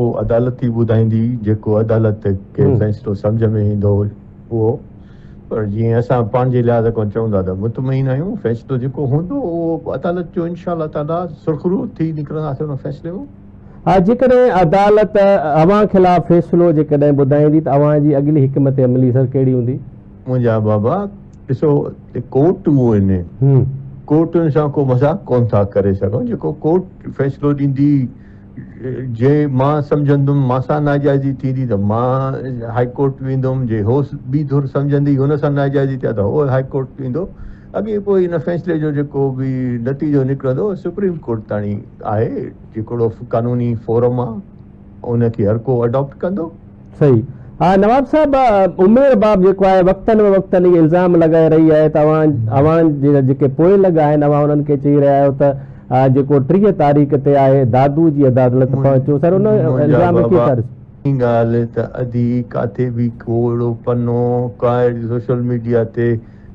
اهو عدالت ئي ٻڌائيندي جيڪو عدالت کي فيصلو سمجهه ۾ ايندو اهو پر جيئن اسان پنهنجي لحاظ کان چئون ٿا ته مطمئن آهيون فيصلو جيڪو هوندو اهو عدالت جو انشاء الله تعاليٰ سرخرو ٿي نڪرنداسين ان فيصلي مان. ها جيڪڏهن عدالت اوهان خلاف فيصلو جيڪڏهن ٻڌائيندي ته اوهان جي اڳلي حڪمت عملي سر ڪهڙي هوندي؟ منهنجا بابا ڏسو ڪورٽون آهن ڪورٽن سان ڪو مذاق ڪونه ٿا ڪري سگهون جيڪو ڪورٽ فيصلو ڏيندي جي مان سمجهندم مان سان ناجائزي ٿيندي ته مان هائي ڪورٽ ويندم، جي هوس ٻي ڌر سمجهندي هن سان ناجائزي ٿي آ ته هو هائي ڪورٽ ويندو، اڳي پوء ان فيصلي جو جيڪو به نتيجو نڪرندو سپريم ڪورٽ تاڻي آهي، جيڪڙو قانوني فورم آ ان کي هر ڪو اڊاپٽ ڪندو. صحيح آ نواب صاحب عمير باب جيڪو آهي وقتن به وقتن هي الزام لڳائي رهي آهي ته اوهان اوهان جيڪي پوء لڳ آهن اوهان انهن کي چئي رهيا آهيو ته جيڪو ٽيهه تاريخ تي آهي دادو جي عدالت پهچو سر ان الزام کي ڪيئن ٿا ڏسو ڳالهه ته ادي ڪاٿي به ڪو اهڙو پنو ڪا اهڙي سوشل ميڊيا تي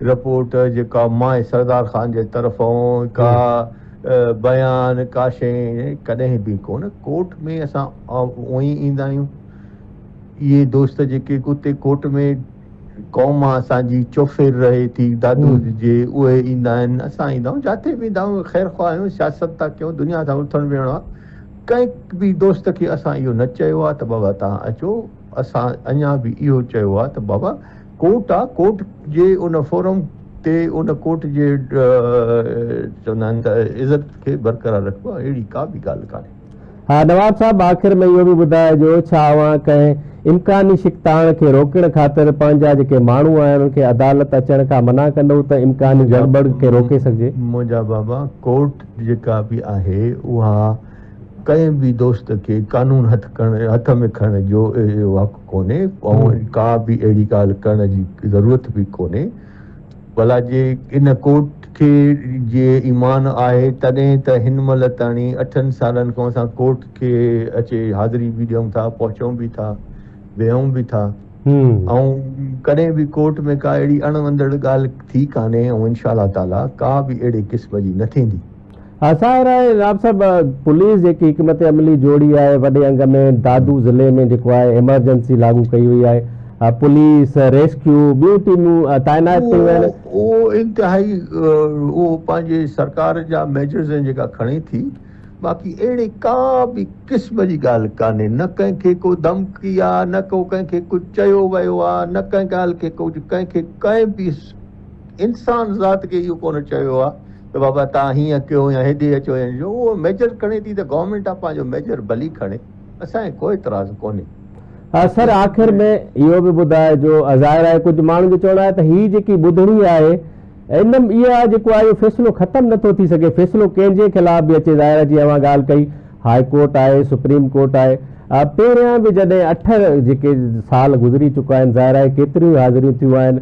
رپورٽ جيڪا مائي سردار خان جي طرفئون ڪا بيان ڪا شئي ڪڏهن به ڪونه ڪورٽ ۾ اسان اونئي ايندا آهيون اهي دوست جيڪي اتي ڪورٽ ۾ قوم اسان جي چوڦير رهي ٿي دادو جي اهي ايندا آهن اسان ايندا آهيون جاٿي به ايندا آهيون خير خواه آهيون سياست ٿا ڪيون دنيا سان اٿڻ ويهڻ آهي ڪنهن به دوست کي اسان اهو نه چيو آهي ته بابا تهان اچو اسان اڃا به اهو چيو آهي ته بابا ڪورٽ آ ڪورٽ جي ان فورم تي ان ڪورٽ جي چوندا آهن ته عزت کي برقرار رکبو اهڙي ڪا به ڳالهه ڪانهي. ها نواب صاحب آخر ۾ اهو به ٻڌائجو ڇا اوهان ڪنهن امڪاني شڪتاڻ کي روڪڻ خاطر پنهنجا جيڪي ماڻهو آهن انهن کي عدالت اچڻ کان منع ڪندؤ ته امڪاني گڙٻڙ کي روڪي سگهجي. منهنجا بابا ڪورٽ جيڪا به آهي اها ڪنهن به دوست کي قانون هٿ ۾ کڻڻ جو اهو ڪونهي ۽ ڪا به اهڙي ڳالهه ڪرڻ جي ضرورت به ڪونهي. ڀلا جي ان ڪورٽ کي جي ايمان آهي تڏهن ته هن مهل تاڻي اٺن سالن کان اسان ڪورٽ کي اچي حاضري به ڏيون ٿا، پهچون به ٿا، ويهون به ٿا ۽ ڪڏهن به ڪورٽ ۾ ڪا اهڙي اڻ وڻندڙ ڳالهه ٿي ڪانهي ۽ انشاء الله تعاليٰ ڪا به اهڙي قسم جي نه ٿيندي. اسان راء جناب صاحب پوليس جيڪي حڪمت عملي جوڙي آهي وڏي انگ ۾ دادو ضلعي ۾ جيڪو آهي ايمرجنسي لاڳو ڪئي وئي آهي پوليس ريسڪيو ٻيون ٽيمون تعينات ڪيون ويون آهن. اهو انتهائي اهو پنهنجي سرڪار جا ميجرز آهن جيڪا کڻي ٿي باقي اهڙي ڪا به قسم جي ڳالهه ڪانهي نه ڪنهن کي ڪو ڌمڪي آ نه ڪو ڪنهن کي ڪجهه چيو ويو آ نه ڪنهن ڳالهه کي ڪجهه ڪنهن کي ڪنهن به انسان ذات کي اهو ڪونه چيو آ ته بابا تان هيئن ڪيو يا هيڏي اچو يا جو اهو ميجر کڻي ٿي ته گورنمينٽ آف پنهنجو ميجر ڀلي کڻي اسان کي ڪو اعتراض ڪونهي. سر آخر ۾ اهو به ٻڌاء جو ظاهر آهي ڪجهه ماڻهن جو چوڻ آهي ته هي جيڪي ٻڌڻي آهي ان م اها جيڪو آهي اهو فيصلو ختم نه ٿو ٿي سگهي فيصلو ڪنهن جي خلاف به اچي ظاهر آهي جيئن اوهان ڳالهه ڪئي هاء ڪورٽ آهي سپريم ڪورٽ آهي پهريان به جڏهن اٺ جيڪي سال گذري چڪا آهن ظاهر آهي ڪيتريون حاضريون ٿيون آهن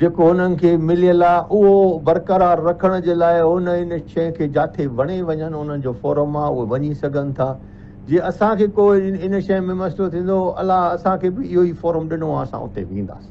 جيڪو هنن کي مليل آ اهو برقرار رکڻ جي لاء هن ان شئي کي جاٿي وڻي وڃن انهن جو فورم آ اهي وڃي سگهن ٿا جي اسان کي ڪو ان شئي ۾ مسئلو ٿيندو الله اسان کي به اهو ئي فورم ڏنو آ اسان اتي وينداس.